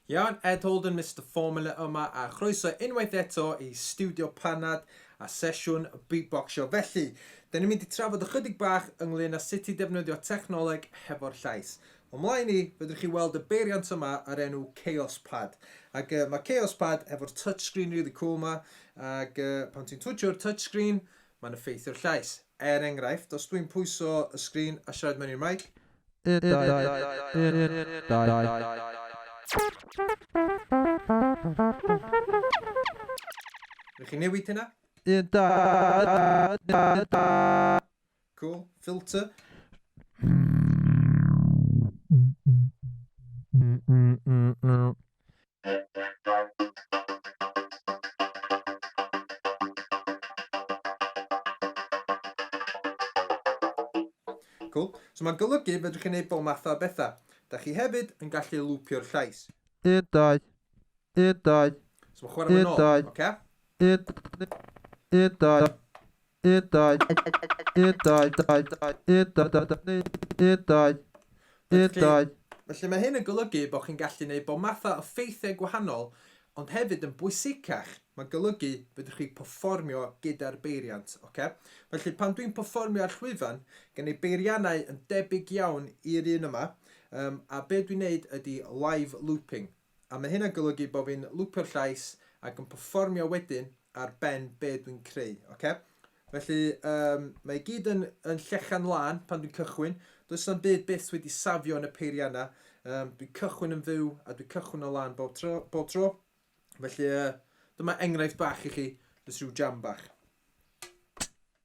Iawn, Ed Holden, Mister Formula yma a chroeso unwaith eto i Stiwdio Panad a sesiwn Beatboxio. Felly, da ni'n mynd i trafod ychydig bach ynglyn â sut i ddefnyddio technoleg hefo'r llais. O mlaen i, fedrwch chi weld y beiriant yma ar enw Chaos Pad. Ac uh, mae Chaos Pad hefo'r touchscreen really cool yma, ac uh, pan ti'n twtio'r touchscreen, Mae'n effeithio'r llais. Er enghraifft, os dwi'n pwyso y sgrin a siarad mewn i'r meic. Un, dau, un, un, dau. Wnewch chi newid hynna? Un, dau. Cool. Filter. Cool. So mae'n golygu fedrwch chi wneud bob math o bethau. Da chi hefyd yn gallu lwpio'r llais. Un, dau. Un, dau. So mae'n chwarae fo'n ôl. Un, dau. Oce? Un, dau. un dau un dau dau dau un dau dau dau ni un dau un dau Felly mae hyn yn golygu bod chi'n gallu neud bob matha o ffeithiau gwahanol ond hefyd yn bwysicach mae'n golygu fedrwch chi pefformio gyda'r beiriant oce? Felly pan dwi'n pefformio ar llwyfan gen i beiriannau yn debyg iawn i'r un yma yym a be dwi'n neud ydi live looping A mae hyn yn golygu bod fi'n lwpio'r llais ac yn perfformio wedyn ar ben be dwi'n creu, ocê? Felly, um, mae i gyd yn, yn llechan lân pan dwi'n cychwyn. Does na'm byd byth wedi safio yn y peiriau yna. Um, dwi'n cychwyn yn fyw a dwi'n cychwyn o lân bob tro. Bob tro. Felly, uh, dyma enghraifft bach i chi, jyst rhyw jam bach.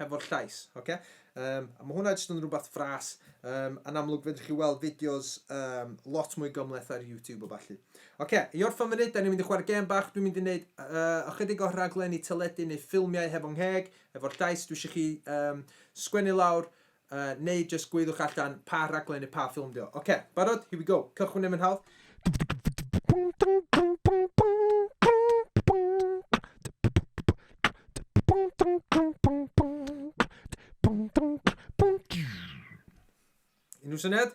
hefo'r llais, oce? Um, a mae hwnna jyst yn rhywbeth fras. Um, yn amlwg fedrwch chi weld fideos um, lot mwy gymleth ar YouTube o falle. Oce, i orffen fyny, da ni'n mynd i chwarae gem bach, dwi'n mynd i wneud uh, ychydig o rhaglen i teledu neu ffilmiau hefo'n ngheg, efo'r llais, dwi eisiau chi um, sgwennu lawr Yy, neu jyst gweiddiwch allan pa rhaglen neu pa ffilm 'di o. Ocê, barod? Here we go. Cychwyn yn fy nhawdd. Unrhyw syniad?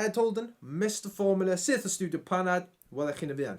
Ed Holden, Mister Formula, syth o Studio Panad, welech chi'n y fuan.